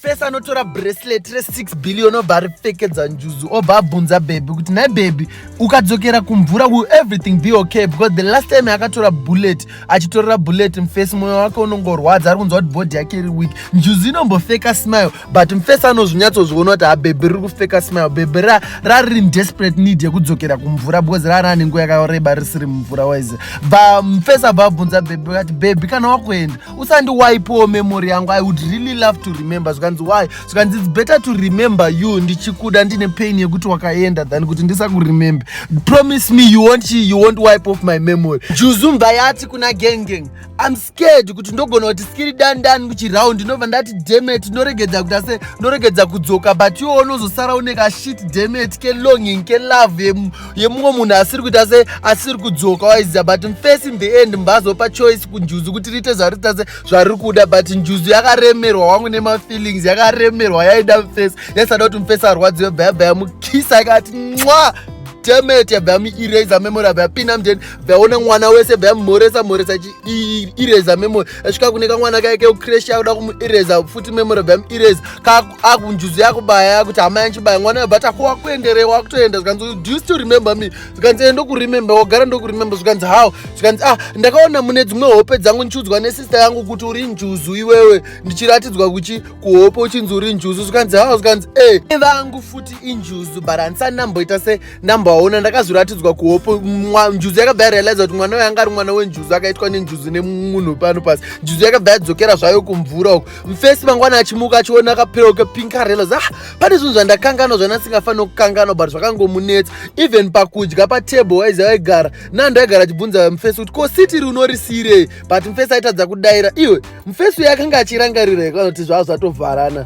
fes anotora bracelet re6 billion obva aripfekedza njuzu obva abvunza bhebhi kuti nhai bhebhi ukadzokera kumvura will everything be okay because the last time akatora bullet achitorera bullet mfes mwoyo wake unongorwadza ari kunzwa kuti bhodhi yake iri week njuzu inombofeka smile but mfes anozvinyatsozviona kuti habhebhi riri kufeka smile bhebhi rariri desperate need yekudzokera kumvura because rari anenguva yakareba risiri mumvura wise bva mfes abva abvunza bhebhi kati bhebhi kana wakuenda usandiwaipewo memory yangu i would really love to remember zvikanzi why zvikanzi its better to remember you ndichikuda ndine pain yekuti wakaenda than kuti ndisakuremembe promise me you won't, you won't wipe off my memory juzumba yati kuna gengeng im scared kuti ndogona kuti skiri dandan kuchiround ndinobva ndati demet ndoregedza kuti ase ndoregedza kudzoka but iwo unozosara unekashit demet kelonging kelove yemumwe munhu asiri kuita se asiri kudzoka waiziva but mfirst in the end mbazopa choice kunjuzu kuti riite zvarita se zvariri kuda but njuzu yakaremerwa wangu nemafeelings yakaremerwa yaida mfirst yaisada kuti mfirst arwadziwe bhayabha yamukisa yakati nwa demet yabva yamuireza memory abva yapinda mden bva yaona mwana wese bva yamumhoresa mhoresa ireza memory asvika kune kamwana kaye keucresh yakuda kumuireza futi memory bva yamuireza akunjuzu yakubaya akuti hama yanchibaya mwana yobata ko wakuenderei wakutoenda zvikanzi do you still remember me zvikanzi eh, ndokuremember wagara ndokuremember zvikanzi how zvikanzi ah ndakaona mune dzimwe hope dzangu ndichiudzwa nesister yangu kuti uri njuzu iwewe ndichiratidzwa kuchi kuhope uchinzi uri njuzu zvikanzi how zvikanzi e eh, vangu futi injuzu but handisani ndamboita se ndamboaona ndakazviratidzwa kuhope njuzu yakabva yarealiza kuti mwana uyo anga ari mwana wenjuzu akaitwa nenjuzu nemunhu pano pasi njuzu yakabva yadzokera zvayo kumvura uku mfesi mangwana achimuka achiona kapiro kepinkarelo za ah, pane zvinhu zvandakanganwa zvana singafanira kukanganwa but zvakangomunetsa even pakudya patable waizi aigara nando aigara achibvunza mfesi kuti ko siti ri unorisiirei but mfesi aitadza kudaira iwe mfesi uye akanga achirangarira ikanoti zvava zvatovharana